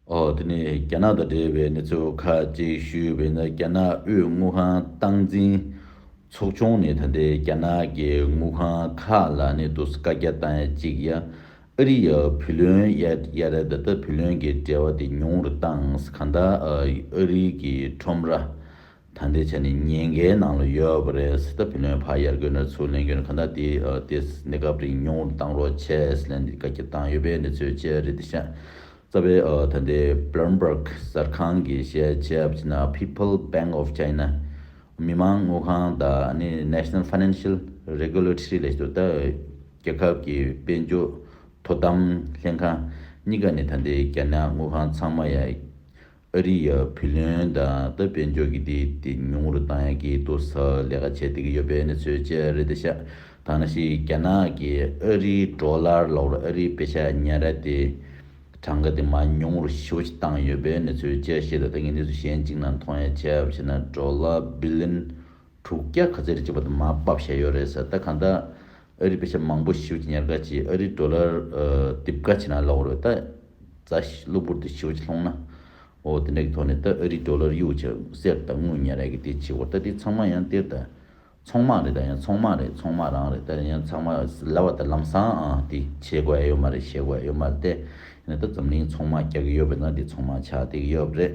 འོག་ཏུ་ནི་རྒྱ་ནག་དང་འབྲེལ་བའི་གནས་ཚུལ་ཁག་ཅིག་ཞུས་པས་ན་རྒྱ་ནག་དབུས་དངུལ་ཁང་སྟངས་འཛིན་ཚོགས་ཆུང་ནི་ད་ལྟའི་རྒྱ་ནག་གི་དངུལ་ཁང་ཁག་ལ་ནི་དུ་སི་ཀ་རྒྱ་སྟངས་གཅིག་ཡ་ཨི་རི་ཡ་བུ་ལོན་ཡ་ཡ་ར་ད་ད་བུ་ལོན་གྱི་འབྲེལ་བ་དེ་ཉུང་རུ་བཏང་ག་འདའ་ཨི་རི་ཀི་ཁྲོམ་ར་ད་འདི་ཆ་ནས་ཉེན་ཁའི་ནང་ལ་ཡོད་པ་རེད་སི་ཏཱ་བྷི་ལོན་ཕ་ཡར་གོས་ནོར་ཚུལ་གླེང་སྐྱོན་གང་དག་དེ་དེ་གནས་སྐབས་རིང་ཉུང་ངུར་བཏང་རོགས་བྱས་ལན་འདི་བཀའ་ཁྱབ་བཏང་ཡོད་པའི་གནས་ཚུལ་བཅས་རེད་འདི་ཤ་ཚ་བའི་ད་ལྟའི Bloomberg གསར་ཁང་གི་བཤད་བྱའི་བྱས་ན People Bank of China མི་དམངས་དངུལ་ཁང་དང་ནི National Financial Regulatory ལས་བྱེད་དོ་རྒྱལ་ཁབ་ཀྱི་དཔལ་འབྱོར་དོ་དམ་ལྷན་ཁང་གཉིས་ཀ་ནི་ད་ལྟའི་རྒྱ་ནག་དངུལ་ཁང་ཚང་མ་ཡང་ཨ་རི་ཡ་བྷི་ལོན་དང་ཏི་དཔལ་འབྱོར་གྱི་དེའི་དེ་ཉུང་རུ་བཏང་ཡག་གི་འདུག་ས་ལས་ཀ་བྱེད་བསྡད་ཀྱི་ཡོད་པའི་གནས་ཚུལ་བཅས་རེད་དེ་ཤ་ཐང་ན་ཤི་རྒྱ་ནག་གི་ཨ་རིའི་འགྲོ་ལར་ལོག་རུ་ཨ་རིའི་བེ་ཤ་ཉན་ར་དེ་གྲངས་ཀ་དེ་མ་ཉུང་རུ་ཞི་བོ་ཞིག་བཏང་ཡོད་པའི་གནས་ཚུལ་བཅས་ཤེས་ཐུབ་ད་ངས་འདི་ཚོ་གཞན་གཅིག་ན་མཐོང་ཡ་ཆེ་བ་བྱས་ན་འགྲོ་ལ་བྷི་ལིན། དྲུག་བརྒྱ་ག་ཚད་རེད་ཅེས་པ་དེ་མ་པབ་བཤད་ཡོད་རེད་ཟེར་ད་གང་ལྟར་ཨ་རིའི་བེད་སྤྱད་མང་པོ་ཞིའོ་ཅི་ཉེར་དགའ་ཅིག་ཨ་རིའི Dollar དིབ་དགའ་ཅིག་ན་ལོག་རོད་ད་རྫ་གློ་བུར་དུ་ཞིའོ་ཅི་ལྷོང་ན་འོ་དེ་འདྲ་གི་ཐོག་ནས་ད་ཨ་རིའི Dollar གཡུག་ཅིག་གསེར་ད་དངུལ་ཉེར་རེད་གི་དེ་ཅིག་འོ་ད་དེ་ཚང་མ་ཡང་སྟེར་ད་ཚོང་མ་རེད་ད་ཡང་ཚོང་མ་རེད་ཚོང་མ་རང་རེད་ད་ཡང་ཚང་མ་ལ་བ་ད་ལམ་སང་ཨ་དེ་བྱེད་དགོས་ཨེ་ཡོད་མ་རེད་བྱེད་དགོས་ཨེ་ཡོད་མ་རེད་དེ་ཡིན་ན་ད་འཛམ་གླིང་ཚོང་མ་རྒྱག་གི་ཡོད་པས་ན་དེ་ཚོང་མ་ཆགས་དེ་གི་ཡོད་རེད་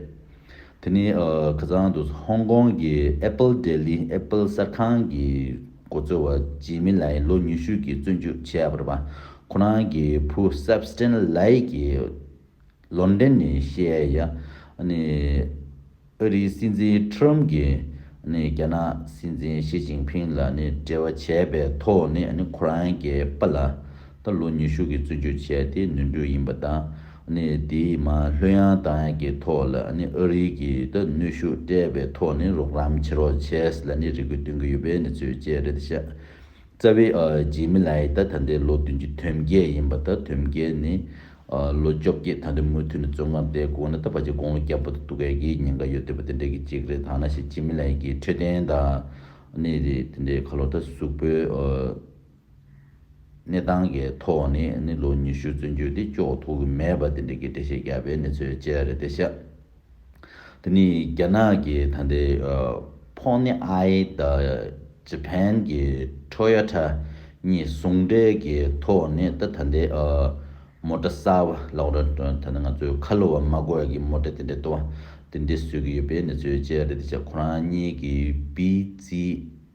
དེ་ནི་ཁ་སང་དུ་ཧོང་ཀོང་གི Apple Daily Apple གསར་ཁང་གི་མགོ་གཙོ་བ་ཇི་མི་ལའི་ལོ་ཉི་ཤུ་གྱི་བཙོན་འཇུག་བྱས་ཡག་པར་བ་ཁོ་རང་གི་བུ Sebastian Lai གྱི་ལོར་འདྲེན་ནས་བཤད་ཡ་ནི་ཨ་རིའི་སྲིད་འཛིན Trump གྱི་ནི་རྒྱ་ནག་སྲིད་འཛིན Xi Jinping ལ་ནི་འབྲེལ་བ་བྱས་པའི་ཐོག་ནས་ནི་ཁོ་རང་གི་པ་ལ། ད་ལོ་ཉི་ཤུ་གིས་བཙོན་འཇུག་བྱས་ཏེ་ནུས་འབྲུ་ཡིན་པ་དང། དེའི་མ་ལྷོད་ཡང་དང་ཡང་གི་ཐོག་ལ་ཨ་རི་གིས་ནུས་ཤུགས་སྤྲད་པའི་ཐོག་ནས་རོགས་རམ་བྱེད་རོགས་བྱས་ལ་རེ་སྐུལ་བཏོན་གྱི་ཡོད་པའི་གནས་ཚུལ་བཅས་རེད་བྱས། རྩ་བའི་ཇི་མི་ལའི་ད་ད་ལྟའི་ལོ་བདུན་གྱི་དོན་རྒྱས་ཡིན་པ་དང་དོན་རྒྱས་ནི། ལོ་བཅོ་བརྒྱད་ད་ལྟའི་མུ་མཐུད་ནས་བཙོན་ཁང་དེའི་སྒོ་ནས་ད་བར་གྱི་དགུང་ལོ་བརྒྱ་པོ་དང་དུ་སྐལ་གྱི་ཉེན་ཁ་ཡོད་སྡོད་པ་དེ་འདྲ་གི་གཅིག་རེད་ཐ་ན་ཞིག་ཇི་མི་ལའི་གི་འཕྲོད་བསྟེན་དང། དེ་འདྲའི་ཁ་ལོ་ད་གཟུགས་པོའི། གནས་སྟངས་ཀྱི་ཐོག་ནས་ནི་ལོ་ཉི་ཤུ་བཙོན་འཇུག་དེ་ལྕོགས་ཐུབ་ཀྱི་མེད་པ་དེ་འདྲ་གི་འགྲེལ་བཤད་རྒྱག་པའི་གནས་ཚུལ་བཅས་རེད་དེ་ཤག་དེ་ནི་རྒྱ་ནག་གི་ད་ལྟའི་ཕོག་ནི་ཨའི་ད་ཇི་ཕན་གྱི་ཁྲོ་ཡ་ཁྲ་གཉིས་ཟུང་འབྲེལ་གྱི་ཐོག་ནས་ད་ད་ལྟའི་མོ་ཏྲ་གསར་བ་ལོག་ར་ད་ནི་ང་ཚོའི་ཁ་ལོ་བ་མ་དགོས་ཀྱི་མོ་ཏྲ་དེ་འདྲ་ལྟོ་བ་དེ་འདྲ་བཟོས་ཀྱི་ཡོད་པའི་གནས་ཚུལ་བཅས་རེད་དེ་ཤག་ཁོ་རང་གཉིས་ཀྱི་བིས་ཙི་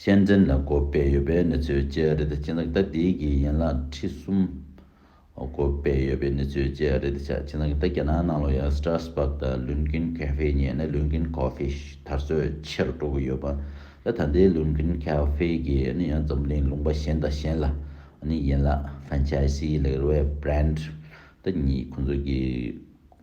ཤན་འཛིན་ལ་གོ་བས་ཡོད་པའི་ནུས་ཚོད་བཅས་རེད་དེ་སྤྱི་ལག་རྟ་འདིའི་གི་ཡན་ལག་ཁྲི་གསུམ། གོ་བས་ཡོད་པའི་ནུས་ཚོད་བཅས་རེད་དེ་ཆ་སྤྱི་ལག་རྟ་རྒྱ་ནག་ནང་ལོ་ཡ་སི་ཏྲ་སི་པག་དང་ལུན་ཀིན་ཁའེ་ཧྥེ་གཉིས་ནི་ལུན་ཀིན་ཁའོ་ཧྥེ་དར་སྲོལ་ཆེར་འགྲོ་གི་ཡོད་པ་ལ་ད་ལྟའི་ལུན་ཀིན་ཁའེ་ཧྥེ་གི་ནི་ཡང་འཛམ་གླིང་ལུང་པ་གཞན་དང་གཞན་ལ་ནི་ཡན་ལག་ཧྥན་ཆའི་སི་ལེགས་རོའི་བྷྲན་དུ་གཉིས་ཁོ་ཚོ་གི་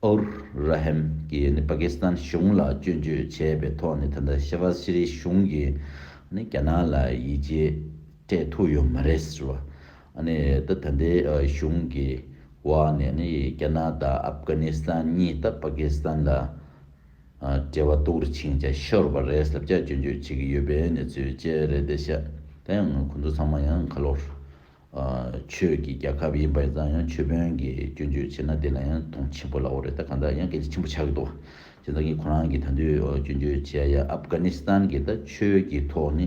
ཨུར་ར་ཧེམ་གྱིས་ནི་པ་ཀི་སི་ཐན་གཞུང་ལ་སྐྱོན་བརྗོད་བྱས་པའི་ཐོག་ནས་ད་ལྟ་ཤེ་བྷ་ཟི་རིའི་གཞུང་གིས་ནི་རྒྱ་ནག་ལ་ཡིད་ཆེས་སྤྲད་ཐུབ་ཡོད་མ་རེད་ཟེར་བ། ནི་ད་ད་ལྟའི་གཞུང་གི་འོག་ནས་ནི་རྒྱ་ནག་དང་ཨབ་གྷ་ནི་སི་ཐན་གཉིས་ད་པ་ཀི་སི་ཐན་ལ་འབྲེལ་བ་གཏུག་རུ་ཕྱིན་ཅིང་ཤོར་བ་རེད་ཟབ་ཆ་སྐྱོན་བརྗོད་བྱེད་ཀྱི་ཡོད་པའི་གནས་ཚུལ་བཅས་རེད་དེ་ཤ་ད་ཡང་ཁོ་ཚོ་ཚང་མ་ཡང་ཁ་ལོ། ཆོས་ཀྱི་རྒྱལ་ཁབ་ཡིན་པས་ཙང་ཡང་ཆོས་དཔོན་གྱིས་སྐྱོན་བརྗོད་བྱས་ན་དེ་ལ་ཡང་དོན་ཆེན་པོ་ལགས་རེད་ད་གང་ལྟར་ཡང་གལ་ཆེན་ཆེན་པོ་ཆགས་ཀྱི་འདུག་བ། བྱས་ཙང་གིས་ཁོ་རང་གིས་ད་དུས་སྐྱོན་བརྗོད་བྱས་ཡ་ཨབ་གྷ་ནི་སི་ཐན་གྱི་ད་ཆོས་ཀྱི་ཐོག་ནི་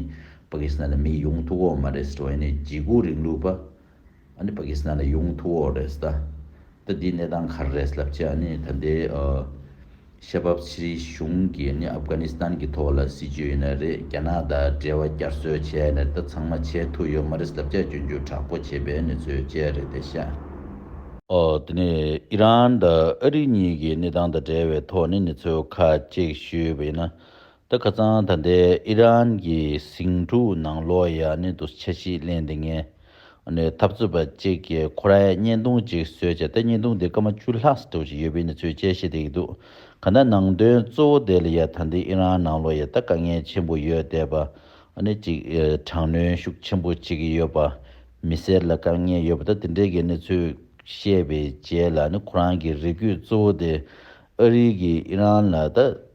པ་ཀི་སི་ཐན་ལ་མི་ཡོང་ཐུག་འོག་མ་རེད་ཟེར་བ་ཡིན་ནའི་འཇིགས་སྐུལ་རིང་ལུགས་པ་ཨ་ནི་པ་ཀི་སི་ཐན་ལ་ཡོང་ཐུག་འོག་རེད་ཟེར་ད། ད་དེའི་གནས་སྟངས་ག་རེ་རེད་ལབ་ཅེས་ནི་ད་ལྟའི་ཤེས་པ་ཕྱི་རིལ་གཞུང་གིས་ནི་ཨབ་གྷ་ནི་སི་ཐན་གི་ཐོག་ལ་སྲིད་ཇུས་ཡོད་ན་རེད་རྒྱ་ནག་དང་འབྲེལ་བ་བསྐྱར་གསོ་བྱས་ནས་ད་ཚང་མ་བྱས་ཐུག་ཡོད་མ་རེད་ལབ་ཅེས་བརྗོད་རྒྱུ་དྲག་པོ་བྱས་པའི་གནས་ཚུལ་བཅས་རེད་དེ་ཤ་དེ་ནས་ཨི་རན་དང་ཨ་རི་གཉིས་ཀྱི་གནས་སྟངས་དང་འབྲེལ་བའི་ཐོག་ནས་ནི་ཚོད་ཁག་ཅིག་ཞུས་པ་ཡིན་ན་ད་ག་ཙང་ད་ལྟའི་ཨི་རན་གྱི་ཟིང་འཁྲུག་ནང་ལོ་ཡ་ནི་དུ་ཆ་ཞིག་གླེང་དེ་ངས་ནི་འཐབ་རྩོད་པ་ཅིག་གི་ཁོ་རའི་བརྙན་ཐུང་ཅིག་བཟོས་བྱས་ད་བརྙན་ཐུང་དེ་སྐར་མ་བཅུ་ལྷག་སི་ཐུག་ཅིག་ཡོད་པའི་ནི་ཚོས་དཔྱད་ཤེས་དེ་ཡི་འདུག་ག་ད་ནང་དོན་གཙོ་བོ་དེ་ལ་ཡ་ད་ལྟའི་ཨི་རན་ནང་ལོ་ཡ་ད་དཀའ་ངལ་ཆེན་པོ་ཡོད་བསྡད་པ་ནི་ཅིག་དྲག་གནོན་ཤུགས་ཆེན་པོ་ཅིག་གི་ཡོད་པ་མི་སེར་ལ་དཀའ་ངལ་ཡོད་པ་ད་དེ་འདྲའི་གི་ནི་ཚོས་བཤད་པའི་རྗེས་ལ་ནི་ཁོ་རང་གི་རེ་སྒུག་གཙོ་བོ་དེ་ཨ་རིའི་གི་ཨི་རན་ལ་ད།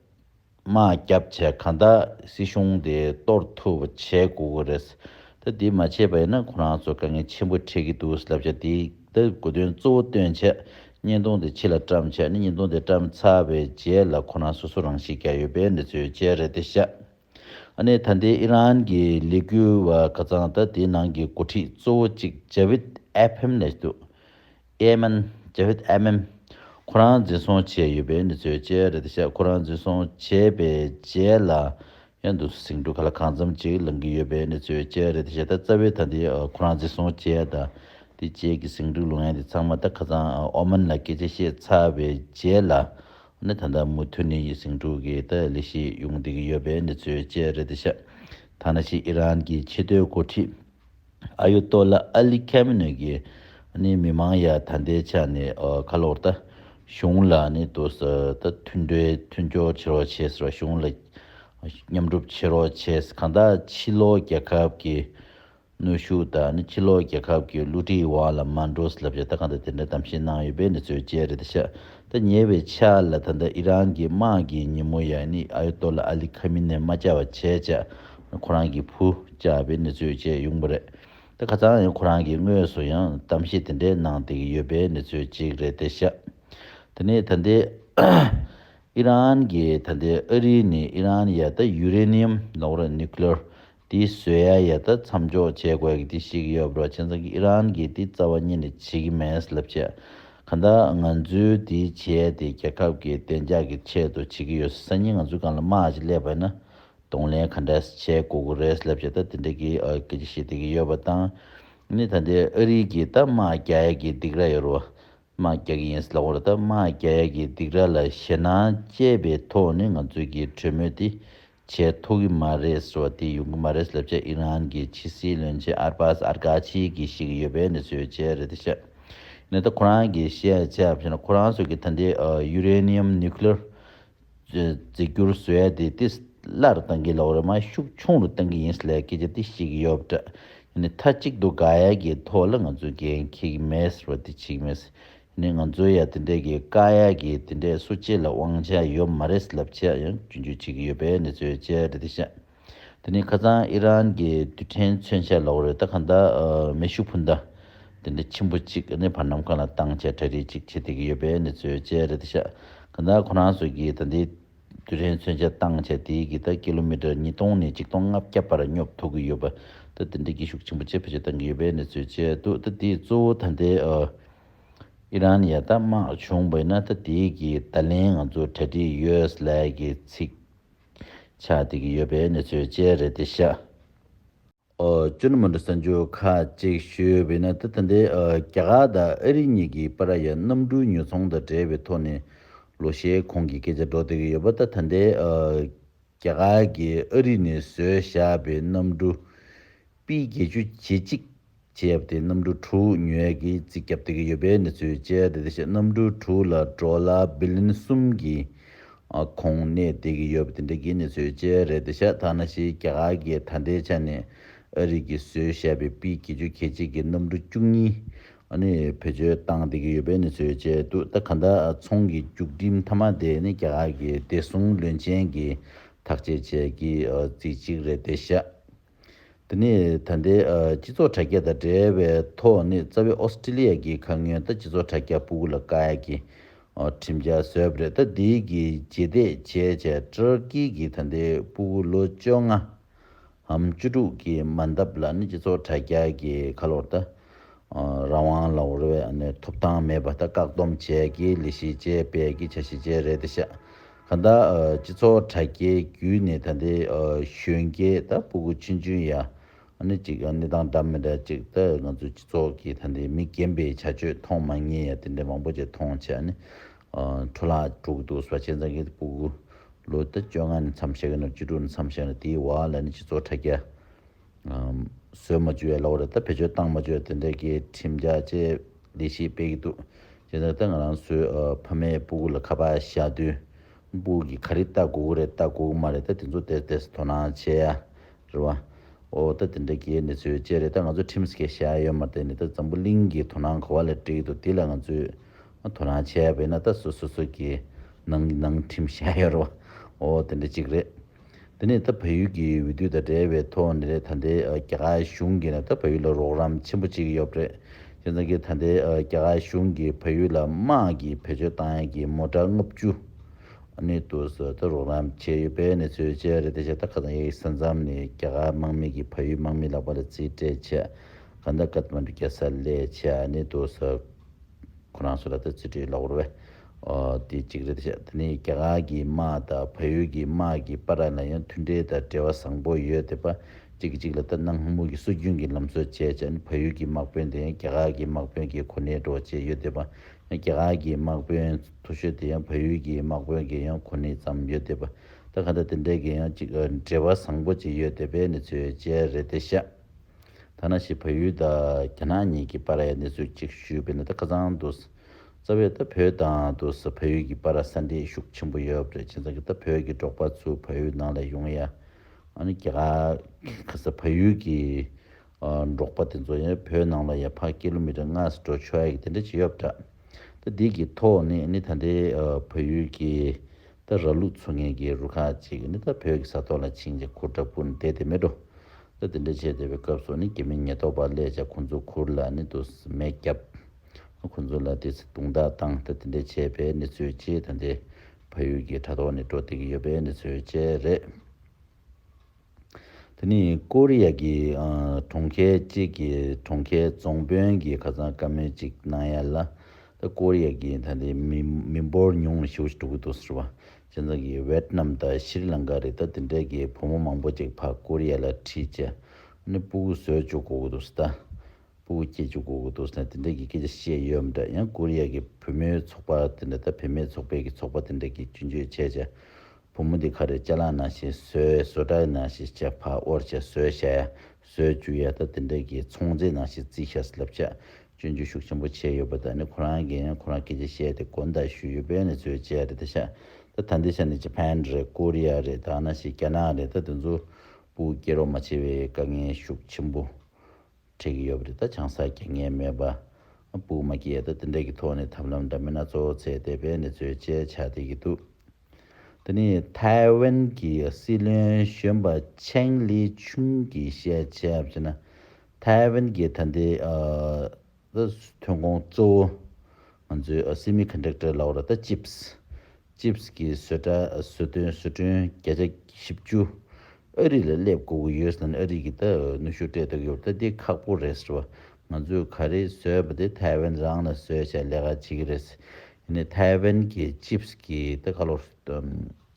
དམག་རྒྱབ་བྱས་ག་ད་སྲིད་གཞུང་དེ་གཏོར་ཐུབ་པ་བྱས་དགོས་ཀྱི་རེད། ད་དེ་མ་བྱས་པ་ཡིན་ན་ཁོ་རང་ཚོ་དཀའ་ངལ་ཆེན་པོ་འཕྲད་ཀྱི་འདུག་བསླབ་བྱ་དེ་ད་དགོས་དོན་གཙོ་བོ་སྟོན་ཆེད་བརྙན་ཐུང་དེ་ཕྱི་ལ་བཀྲམ་ཆེད་བརྙན་ཐུང་དེ་བཀྲམ་ཚར་བའི་རྗེས་ལ་ཁོ་རང་སོ་སོ་རང་ཤི་རྒྱག་ཡོད་པའི་འབྲེལ་ཚུལ་བཅས་རེད་དེ་བཤད། ཨ་ནེ་ད་ལྟའི་ཨི་རན་གྱི་ལས་འགུལ་བ་ཀ་ཚང་ད་དེའི་ནང་གི་འགོ་ཁྲིད་གཙོ་བོ་ཅིག་ཇ་བིད་ཨེ་ཕེམ་ལས་འདུག་ཨེ་མིན། Javed Amim། ཁོ་རང་འཛིན་བཟུང་བྱས་ཡོད་པའི་གནས་ཚུལ་བཅས་རེད་དེ་བཞག་ཁོ་རང་འཛིན་བཟུང་བྱས་པའི་རྗེས་ལ་ཡང་འདུག་སུ་ཟིང་འཁྲུག་ག་ལ་གང་འཚམ་ཅིག་ལངས་ཀྱི་ཡོད་པའི་གནས་ཚུལ་བཅས་རེད་དེ་བཞག་ད་རྩ་བའི་ད་འདི་ཁོ་རང་འཛིན་བཟུང་བྱས་ད་དེ་རྗེས་ཀྱི་ཟིང་འཁྲུག་ལུང་ཡང་དེ་ཚང་མ་ད་ཁ་ཚང་ཨོ་མན་ལ་སྐད་ཆ་བཤད་ཚར་བའི་རྗེས་ལ་ནི་ད་ད་མུ་མཐུད་ནས་ཡི་ཟིང་འཁྲུག་གི་ད་ལི་ཤི་ཡོང་བསྡད་ཀྱི་ཡོད་པའི་གནས་ཚུལ་བཅས་རེད་དེ་བཞག་ཐ་ན་ཕྱིས་ཨི་རན་གྱི་ཆེས་མཐོའི་འགོ་ཁྲིད། ཨ་ཡོ་ཏོ་ལ་ཨ་ལི་ཁ་མི་ནུས་ཀི། ནི་མི་མང་ཡ་ད་འདའི་ཆ་ནི་ཁ་ལོ་བར་ད། གཞུང་ལ་ནི་དུ་ཟ་ད་མཐུན་འབྲེལ་མཐུན་སྐྱོར་བྱེད་རོགས་བྱས་ཟེར་བ་གཞུང་ལ། མཉམ་སྒྲུབ་བྱེད་རོགས་བྱས་གང་དག་ཕྱི་ལོག་རྒྱལ་ཁབ་ཀི། ནུས་ཤུགས་དང་ནི་ཕྱི་ལོག་རྒྱལ་ཁབ་ཀི་བསླུ་བྲིད་བ་ལ་མ་འགྲོ་ཟེར་ལབ་བྱས་ད་གང་དག་དེ་འདྲའི་གཏམ་བཤད་གནང་ཡོད་པའི་ནི་ཚོད་བཅད་རེད་ད་ཤ། ད་ཉེ་བའི་ཆར་ལ་ད་ལྟ་ཨི་རན་གྱི་དམག་གིས་ཉིན་མོ་ཡར་ནི་ཨ་ཡོ་ཏོ་ལ་ཨ་ལི་ཁ་མི་ནེ་མ་བཅའ་བ་བྱས་ཅག་ཁོ་རང་གི་བུ་བཅའ་བའི་གནས་ཚུལ་བཅས་ཡོང་པ་རེད་དེ་ཁ་ཚང་ཡང་ཁོ་རང་གིས་དངོས་སུ་ཡང་གཏམ་བཤད་དེ་འདྲའི་གནང་བསྡད་ཀྱི་ཡོད་པའི་གནས་ཚུལ་གཅིག་རེད་དེ་ཤག་དེ་ནས་ད་ལྟའི་ཨི་རན་གྱིས་ད་ལྟའི་ཨ་རི་ནི་ཨི་རན་ཡ་ད་ཡུ་རེ་ནི་ཡམ་ནོག་ར Nuclear དེ་བཟོས་ཡ་ཡ་ད་མཚམས་འཇོག་བྱེད་དགོས་གི་དེ་ཞིག་ཡོད་པྲ་ཆེན་ཚང་གི་ཨི་རན་གི་དེ་རྩ་བ་གཉིས་ལས་བྱེད་གི་མེད་སླེབ་བྱེད་ག་འདྲ་ང་ཚོའི་དེ་བྱས་དེ་རྒྱལ་ཁབ་གི་བདེ་འཇགས་གི་ཆེད་དུ་བྱེད་གི་ཡོད་སྲིད་སང་ཉིན་ང་ཚོའི་གང་ལ་མ་ཅིག་སླེབ་པའི་ན་གདོང་ལེན་ག་འདྲ་ཞིག་བྱེད་དགོས་གི་རེད་སླེབ་བྱེད་ད་དེ་འདྲ་གི་སྐད་ཆ་བཤད་དེ་གི་ཡོད་པ་དང་ནི་ད་འདི་ཨ་རིའི་གི་ད་མ་རྒྱ་ཡ་གི་སྡིག་ར་ཡོད་རོ་མ་རྒྱ་གི་ཡིན་སྲིད་ལ་འོ་ར་ད་མ་རྒྱ་ཡ་གི་སྡིག་ར་ལ་ཞེད་སྣང་སྐྱེས་པའི་ཐོག་ནི་ང་ཚོའི་གི་གྲོས་མོལ་དེ་བྱེད་ཐུབ་ཀྱི་མ་རེད་གསོལ་ཏེ་ཡོང་གི་མ་རེད་ལབ་རྗེས་ཨི་རན་གྱི་ཕྱི་སྲིད་བློན་ཆེན་ཨར་པཱས་ཨར་ཀ་ཆི་གིས་ཤིག་ཡོད་པའི་འདི་ཚོའི་བྱས་རེད་དེ་བཤད་ནི་ད་ཁོ་རང་གིས་བཤད་ཚད་བཤད་ན་ཁོ་རང་ཚོ་གིས་ད་འདི Uranium Nuclear བརྫི་རྒྱུར་བཟོས་ཏེ་དེ་སླར་གཏང་གི་ལོག་རེད་མ་ཤུགས་ཆུང་རུ་གཏང་གི་ཡིན་སླད་སྐད་ཆ་དེ་ཤིག་ཡོད་འདྲ་ཡིན་མཐའ་གཅིག་ཏུ་དགའ་ཡལ་གྱི་ཐོག་ལ་ང་ཚོ་འགན་འཁྱེར་གྱི་མེད་ཟེར་བ་དེ་ཆིག་མེད་ནས་ང་ཚོའི་ཡ་དེ་འདྲས་ཀྱི་དཀའ་ཡ་གི་དེ་འདྲས་སུ་སྤྱི་ལ་དབང་ཆ་ཡོད་མ་རེད་ལབ་ཆ་ཡང་རྒྱུན་འཇུག་བྱེད་ཀྱི་ཡོད་པའི་གནས་ཚུལ་བཅས་རེད་དེ་ཤ་དེ་ནི་ཁ་ཙང་ཨི་རན་གྱི་དུས་དྲན་མཚོན་ཆ་ལོག་རེད་ད་གང་ལྟར་མེ་ཤུགས་འཕུར་མདའ་དེ་འདྲས་ཆེན་པོ་གཅིག་གནས་བར་ནམ་གང་ལ་བཏང་ཆ་གྲ་སྒྲིག་ཅིག་བྱེད་བསྡད་ཀྱི་ཡོད་པའི་གནས་ཚུལ་བཅས་རེད་དེ་ཤ་གང་ལྟར་ཁོ་རང་ཚོས་ཀྱི་ད་འདི། དུས་རིང་མཚོན་ཆ་བཏང་ཆ་དེའི་གིས་ད་ཀི་ལོ་མི་ཀྲར་ཉིས་སྟོང་ནས་གཅིག་སྟོང་ལྔ་བརྒྱ་བར་སྙོབ་ཐུབ་ཀི་ཡོད་པ། ད་དེ་འདྲའི་གི་ཤུགས་ཆེན་པོ་ཅི་ཕྱིར་བཏང་གི་ཡོད་པའི་གནས་ཚུལ་བཅས་འདུག་ད་དེའི་གཙོ་བོ་ད་ལྟའི་ཨི་རན་ཡ་ད་དམག་བྱུང་བས་ན་ད་དེའི་གི་ད་ལན་ང་ཚོ་གྲ་སྒྲིག་ཡོད་ས་ལས་གི་ཚིག་ཆགས་དེ་གི་ཡོད་པའི་གནས་ཚུལ་བཅས་རེད་དེ་ཤ་བཙུན་མོ་འདི་གསོན་རྒྱུ་ཁ་གཅིག་ཞུས་པས་ན་དེ་ཐུན་ཏེ་རྒྱ་གར་དང་ཨ་རི་གཉིས་ཀྱི་པ་ར་ཡ་གནམ་གྲུའི་ཉོ་ཚོང་དང་འབྲེལ་བའི་ཐོག་ནས་ལོ་ཤས་གོང་གི་སྐད་ཆ་སྒྲོག་བསྡད་ཀྱི་ཡོད་པ་ད་ཐུན་ཏེ་རྒྱ་གར་གྱིས་ཨ་རི་ནས་བཟོས་བཞག་པའི་གནམ་གྲུ་པི་བརྒྱད་ཅུ་ཇེ་གཅིག་བྱས་པ་དེ་གནམ་གྲུ་དྲུག་ཉོས་ཀྱིས་རྩིས་བརྒྱབ་བསྡད་ཀྱི་ཡོད་པའི་གནས་ཚུལ་བཅས་ད་ལྟ་ཤེས་གནམ་གྲུ་དྲུག་ལ་འགྲོ་ལ་བི་ལིན་གསུམ་གྱི་ཁོང་གནས་བསྡད་ཀྱི་ཡོད་པ་དེ་འདྲ་དགེ་ནི་བཟོས་བྱས་རེད་དེ་ཤ་ཐག་ན་ཤི་རྒྱ་གར་གྱི་ད་ལྟའི་ཆ་ནས་ཨ་རིག་གི་བཟོས་བྱས་པའི་པི་གེ་ཆུ་གེ་གཅིག་གི་གནམ་གྲུ་བཅུ་གཉིས་ནི་བེད་སྤྱོད་བཏང་བསྡད་ཀྱི་ཡོད་པས་ནི་བཟོས་བྱས་འདུག་ད་ག་འདྲ་ཚོང་གི་རྒྱུགས་རྒྱིམ་མཐའ་མ་དེ་ནི་རྒྱ་གར་གྱི་བདེ་སྲུང་བློན་ཆེན་གྱིས་ཐག་བཅད་བྱས་ཀྱི་རྩིས་གཅིག་རེད་དེ་ཤ་འདི་ནི་ད་ལྟའི་སྤྱི་ཚོགས་དྲ་རྒྱ་དང་འབྲེལ་བའི་ཐོག་ནས་རྩ་བའི་ཨོ་སི་ཀྲི་ལི་ཡ་གི་ཁ་སྔོན་ད་སྤྱི་ཚོགས་དྲ་རྒྱ་པུ་གུ་ལ་ཀ་ཡ་གི་ཁྲིམས་འཆར་བཟོས་པ་རེད་ད་འདི་གི་རྗེས་འདེད་བྱས་བྱས་ཏྲར་ཀི་གི་ད་ལྟའི་པུ་གུ་ལོ་བཅོ་ལྔའམ་བཅུ་དྲུག་གི་མ་འདབ་ལ་ནི་སྤྱི་ཚོགས་དྲ་རྒྱ་གི་ཁ་ལོར་ད་རང་དབང་ལ་འོར་བའི་ཐོབ་ཐང་མེད་པ་ད་བཀག་སྡོམ་བྱས་ཀི་ལི་ཤི་ཅེ་པེ་གི་བྱ་བྱེད་ཅེ་རེད་ད་ཤ་གང་དག་སྤྱི་ཚོགས་དྲ་རྒྱའི་བརྒྱུད་ནས་ད་ལྟའི་གཞོན་སྐྱེས་དང་སྤུ་གུ་ཆུན་ཆུན་ཡ་ནི་ཅིག་གནས་སྟངས་འདྲ་མི་འདྲ་ཅིག་ད་ང་ཚོའི་སྤྱི་ཚོགས་ཀྱི་ད་ལྟའི་མི་རྒན་པའི་བྱ་སྤྱོད་མཐོང་མ་ངེས་ཡ་དེ་འདྲའི་མང་པོ་ཅིག་མཐོང་བྱས་ཡ་ནི་འཕྲོ་བརླག་འགྲོ་གི་འདུག་བཟོ་བྱས་ཙང་གི་སྤུ་གུ་ལོ་ད་བཅོ་ལྔ་ནས་མཚམས་བཞག་གི་ནོར་བཅུ་དྲུག་ནས་མཚམས་བཞག་ནས་དེའི་བར་ལ་ནི་སྤྱི་ཚོགས་དྲ་རྒྱ། བཟོས་མ་བཅུ་ཡ་ལོག་རེད་ད་བེད་སྤྱོད་བཏང་མ་བཅུ་དེ་འདྲ་གི་ཁྲིམས་རྒྱ་བཅས་ལས་གཞི་སྤེལ་གི་འདུག་ཇི་ལྟར་ད་ང་རང་ཚོའི་ཕ་མའི་སྤུ་གུ་ལ་ཁ་པར་བཞག་དུས་སྤུ་གུ་གི་ག་རེ་ལྟ་དགོས་ཀི་རེད་ལྟ་དགོས་ཀི་མ་རེད་ད་དེ་ཚོ་དེར་དེར་དོ་སྣང་བྱེད་ཡ་རེད་བ། འོ་ད་དེ་འདྲ་གི་གནས་ཚུལ་བཅས་རེད་ད་ང་ཚོ་ཁྲིམས་སྐད་བཤད་ཡ་ཡོད་མ་རེད་ནི་ད་འཛམ་བུ་གླིང་གི་དོ་སྣང་གོ་བ་ལ་འགྲིག་གི་འདུག་དེ་ལ་ང་ཚོས་དོ་སྣང་བྱེད་ཡ་བས་ན་ད་སོ་སོ་སོ་སོ་གི་ནང་གི་ནང་ཁྲིམས་བཤད་ཡ་རེད་བ། འོ་དེ་འདྲ་གཅིག་རེད། དེ་ནས་ད་བལ་ཡུལ་གྱི་འོས་བསྡུ་དང་འབྲེལ་བའི་ཐོག་ནས་རེད་ད་ལྟའི་རྒྱ་གར་གཞུང་གིས་ད་བལ་ཡུལ་ལ་རོགས་རམ་ཆེན་པོ་བྱེད་ཀྱི་ཡོད་པ་རེད། ཁྱེད་རང་གིས་ད་ལྟའི་རྒྱ་གར་གཞུང་གིས་བལ་ཡུལ་ལ་དམག་གིས་བེད་སྤྱོད་བཏང་ཡན་གྱི་མོ་དྲ་ལྔ་བཅུ། གནས་དུ་སོགས་ད་རོགས་རམ་བྱས་ཡོད་པའི་གནས་ཚུལ་བཅས་རེད་དེ་བཞིན་ད་ཁ་སང་ཡིག་ས་མཚམས་ནས་རྒྱ་གར་དམག་མི་གིས་བལ་ཡུལ་དམག་མི་ལག་པ་ལ་རྩིས་སྤྲད་ཆེད་ག་ནྡ་ཀ་ཐ་མ་འདྲུ་རྒྱ་ས་ལས་ཆེད་གནས་དུ་སོགས་ཁོ་རང་སོགས་ལ་ད་རྩིས་སྤྲོད་ཡོད་ལག་བར་བས་དེ་གཅིག་རེད་བཤད་དེ་ནས་རྒྱ་གར་གྱི་དམག་དང་བལ་ཡུལ་གྱི་དམག་གི་པར་ར་ལ་ཡང་མཐུན་འབྲེལ་དང་འབྲེལ་བ་བཟང་པོ་ཡོད་དེ་པ་གཅིག་གིས་གཅིག་ལ་ལྟ་ན་སྔ་མོ་གི་སྲོལ་རྒྱུན་གྱི་ལམ་སྲོལ་བྱས་ཅན་བལ་ཡུལ་གྱི་དམག་དཔོན་དེ་ཡང་རྒྱ་གར་གྱི་དམག་དཔོན་གྱི་གོ་གནས་འགྲོ་བྱེད་ཡོད་དེ་པ་ཡང་རྒྱ་གར་གྱི་དམག་དཔོན་མཐོ་ཤོས་དེ་ཡང་བལ་ཡུལ་གྱི་དམག་དཔོན་གྱི་ཡང་གོ་གནས་ཙམ་ཡོད་དེ་པ་ད་ག་འདྲ་དེ་འདྲ་གྱི་ཡང་གཅིག་འབྲེལ་བ་བཟང་པོ་གཅིག་ཡོད་དེ་པའི་གནས་ཚུལ་བཅས་རེད་དེ་བཤད་ཐ་ན་ཞེས་བལ་ཡུལ་དང་རྒྱ་ནག་གཉིས་ཀྱི་པར་རའི་གནས་ཚུལ་གཅིག་ཞུས་པས་ན་ད་ཁ་ཚང་འདུག། རྩ་བའི་ད་བོད་དང་དུ་ས་ཕ་ཡུལ་གྱི་པ་ར་ས་འདྲེས་ཤུགས་ཆེན་པོ་ཡོད་རེད་ཁྱེད་ཚང་གི་ད་བོད་ཀྱི་འབྲོག་པ་ཚུ་ཕ་ཡུལ་ནང་ལ་ཡོང་ཡ་ཨ་ནི་ག་གི་ས་ཕ་ཡུལ་གྱི་འབྲོག་པ་དེ་ཚོ་ཡང་བོད་ནང་ལ་ཡ་ཕ་ཀི་ལོ་མི་ཏྲ་ལྔ་སུ་འགྲོ་ཆོག་ཡ་གི་དེ་འདྲ་བྱེད་ཡོད་རེད་ད་དེ་གི་ཐོག་ནས་ཨ་ནི་ད་འདྲའི་ཕ་ཡུལ་གྱི་ད་ར་ལུག་ཚུ་ངན་གྱི་རུ་ཁག་ཅིག་ཨ་ནི་ད་བོད་ཀྱི་ས་ཐོག་ལ་ཕྱིན་ཅིང་ཁུར་དྲག་པོ་འདེད་དེ་མི་འགྲོ་ད་དེ་འདྲ་བྱེད་བསྡད་པའི་སྐབས་སུ་ཨ་ནི་རྒྱ་མི་ཉེས་རྟོག་པ་ལས་ཅག་ཁོང་ཚོ་ཁུར་ལ་ཨ་ནི་དུ་སི་མས་རྒྱབ། ཁོ་ཚོ་ལ་དེ་ཚོའི་དུང་བརྡ་དང་དེ་འདྲ་བྱས་པའི་གནས་ཚུལ་བཅས་དང་འདྲེས་ཕ་ཡུལ་གྱི་དྲ་ཐོག་ནས་བཀྲོལ་ཐུབ་ཀྱི་ཡོད་པའི་གནས་ཚུལ་བཅས་རེད། དེ་ནི་ཀོ་རི་ཡ་གྱི་གྲོང་ཁྱེར་གཅིག་གི་གྲོང་ཁྱེར་རྫོང་དཔོན་གྱིས་ཁ་སང་བཀའ་མོལ་ཅིག་གནང་ཡ་ལ། ཀོ་རི་ཡ་གྱི་ད་ལྟའི་མི་འབོར་ཉུང་བ་ཞེ་བོ་ཞིག་འགྲོ་གི་འདུག་ཟེར་བ། སྤྱི་ཚོགས་ཀྱི་ཝེད་ནམ་དང་ཤྲི་ལངྐ་རེད་ད་དེ་འདྲས་ཀྱི་བུ་མོ་མང་པོ་ཅིག་ཕ་ཀོ་རི་ཡ་ལ་ཁྲིད་ཅེས་ནས་སྤུ་གུ་བཟོས་བཅུག་གོ་གི་འདུག་ཟེར་ད། པུ་གུ་སྐྱེས་ཀྱི་གོ་གུ་ཏོ་སི་ནས་དེ་འདྲ་གི་སྐད་ཆ་བཤད་ཡོད་འམ་འདྲ་ཡང་ཀོ་རི་ཡ་གི་བུ་མོའི་ཚོགས་པ་དེ་འདྲ་ད་བུད་མེད་ཚོགས་པའི་གི་ཚོགས་པ་དེ་འདྲ་གི་རྒྱུན་སྤྱོད་བྱས་བྱས་བུ་མོ་འདི་ཁ་རེ་ལྕེ་ལངས་ནང་བཞིན་ཟོས་ཟོས་དྲག་ནང་བཞིན་བྱས་ཕ་ཨོར་བྱས་ཟོས་བྱས་ཡ་ཟོས་བཅུག་ཡ་ད་དེ་འདྲ་གི་ཚོང་རྫས་ནང་བཞིན་རྩིས་ཤ་སི་ལབ་བྱས་སྤྱོད་འཇུག་ཤུགས་ཆེན་པོ་བྱས་ཡོད་པ་ད་ནི་ཁོ་རང་གི་ཡང་ཁོ་རང་སྐད་ཆ་བཤད་དེ་དགོ་འདའ་ཞུས་ཡོད་པས་ནི་ཚོས་བྱས་རེད་ད་ཤ་ད་ད་འདི་ཤ་ནི་ཇེ་ཕན་རེད་ཀོ་རི་ཡ་རེད་ད་ནང་བཞིན་རྒྱ་ནག་རེད་ད་དེ་ཚོ་པུ་གུ་སྐྱེས་རོགས་མ་བྱས་བའི་དཀའ་ངལ་ཤུགས་ཆེན་པོ་ཁྲེལ་གི་ཡོད་པ་རེད་ད་ཆང་ས་སྐྱེ་ངེས་མེད་པ་སྤུག་མ་སྐྱེས་ད་དེ་འདྲ་གི་ཐོག་ནས་ཐབས་ལམ་འདྲ་མིན་སྣ་ཚོགས་བཙལ་ཏེ་དཔེ་ནི་ཚོས་དཔྱད་བྱ་བསྡད་ཀྱི་འདུག་དེ་ནི་ཐའེ་ཝན་གྱི་སྲིད་བློན་གཞོན་པ་ཆེང་ལི་ཆུང་གི་བཤད་བྱ་བྱས་ན་ཐའེ་ཝན་གྱི་ད་ལྟའི་ཐོན་ཁུངས་གཙོ་བོ་ང་ཚོའི་སིམ་མི་ཁཱན་ཏྲེག་ཏར་ལ་བོ་ར་ད་ཅིབས་ཅིབས་ཀྱི་བཟོས་གྲྭ་བཟོས་སྟོན་བཟོས་སྐྲུན་བརྒྱ་ཆ་བཞི་བཅུ་ཨ་རི་ལ་སླེབས་དགོས་ཀྱི་ཡོད་ཟེར་ནས་ཨ་རི་གྱི་ད་ནུ་ཤུ་སྤྲད་འདུག་ཡོད་པ་ལྟ་འདི་ཁག་པོ་རེད་ཟེར་བ་ང་ཚོས་ག་རེ་བཟོས་པ་དེ་ཐའེ་ཝན་རང་ལ་བཟོས་བྱས་ལས་ཀ་བྱེད་ཀྱི་རེད་ཟེར་ནས་ཐའེ་ཝན་གྱི་ཅིབས་ཀྱི་ད་ཁ་ལོ་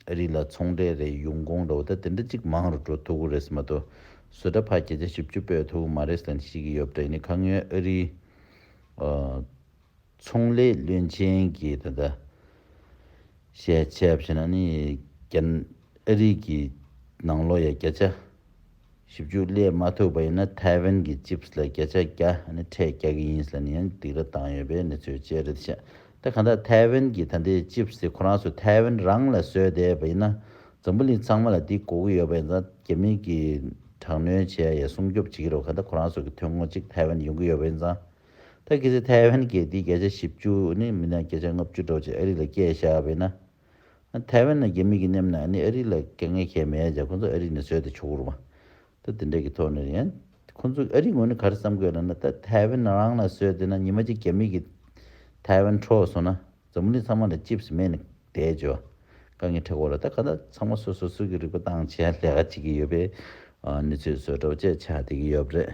ཨ་རི་ལ་ཚོང་འབྲེལ་རེ་ཡོང་གོང་འདྲ་བོ་ད་དེ་འདྲ་ཅིག་མང་རུ་འགྲོ་ཐུབ་ཀྱི་རེད་ཟེར་མ་གཏོགས་བཟོས་གྲྭ་ཕ་བརྒྱ་ཆ་བཞི་བཅུ་སྤོས་ཐུབ་ཀྱི་མ་རེད་ཟེར་ནས་བཤད་ཀྱི་ཡོད་པ་འདྲ་ཡིན་ནས་ཁ་ངོས་ཨ་རི་ཚོང་ལས་བློན་ཆེན་གྱིས་ད་ལྟ་བཤད་ཆས་བྱས་ན་ནི་རྒྱ་ཨ་རིག་གི་ནང་ལོ་ཡ་བརྒྱ་ཆ་བཞི་བཅུ་བསླེབས་མ་ཐུབ་པ་ཡིན་ན་ཐའེ་ཝན་གྱི་ཅིབས་ལ་བརྒྱ་ཆ་བརྒྱ་ནི་ཕྲད་རྒྱག་གི་ཡིན་ཟེར་ནས་ཡང་སྡིགས་ར་བཏང་ཡོད་པའི་གནས་ཚུལ་བཅས་རེད་བཤད་ད་གང་ལྟར་ཐའེ་ཝན་གྱི་ད་ལྟའི་ཅིབས་དེ་ཁོ་རང་ཚོ་ཐའེ་ཝན་རང་ལ་བཟོས་བསྡད་པ་ཡིན་ན་འཛམ་བུ་གླིང་ཚང་མ་ལ་འདི་གོ་གི་ཡོད་པ་ཡིན་ཙང་རྒྱ་མི་གིས་དྲག་གནོན་བྱས་ཡ་སྲུང་སྐྱོབ་བྱེད་ཀྱི་རོགས་གང་ལྟར་ཁོ་རང་ཚོ་གི་ཐོན་ཁུངས་གཅིག་ཐའེ་ཝན་ཡོང་གི་ཡོད་པ་ཡིན་ཙང། ཐ་གི་ཚེ་ཐའེ་ཝན་རྒྱལ་སྡེའི་བརྒྱ་ཆ་བཞི་བཅུ་ནི་མི་སྣ་བརྒྱ་ཆ་ལྔ་བཅུ་འདྲ་བ་ཅིག་ཨ་རི་ལ་སྐྱེས་བཞག་བས་ན། ཐའེ་ཝན་ན་རྒྱ་མི་གི་མཉམ་ན་ནི་ཨ་རི་ལ་དཀའ་ངལ་ཁྱད་མེད་ཀྱང་ཁོ་ཚོ་ཨ་རི་ནས་བཟོས་ཏེ་ཆོག་གུ་རུ་མ་ད་དེ་འདྲ་གི་ཐོག་ནས་ཡིན། ཁོ་ཚོ་ཨ་རི་ངོས་ནས་ག་རེ་བསམ་དགོས་ལ་ན་ད་ཐའེ་ཝན་རང་ལ་བཟོས་ཏེ་ན་ཉི་མ་གཅིག་རྒྱ་མི་གི་ཐའེ་ཝན་འཕྲོག་སོང་ན། འཛམ་བུ་གླིང་ཚང་མ་ལ་ཅིབས་སུ་མེད་ནི་བསྡད་འཇོག་དཀའ་ངེས་ཁྲེལ་འཁོར་ལ་ད་ག་ད་ཚང་མ་སོ་སོ་སུ་གི་རིག་པ་སྟངས་ཆེ་ལས་ཀ་བྱེད་ཀྱི་ཡོད་པས་ནུས་ཚོད་བཟོད་གྲོགས་བཅས་བྱ་བསྡད་ཀྱི་ཡོད་རེད།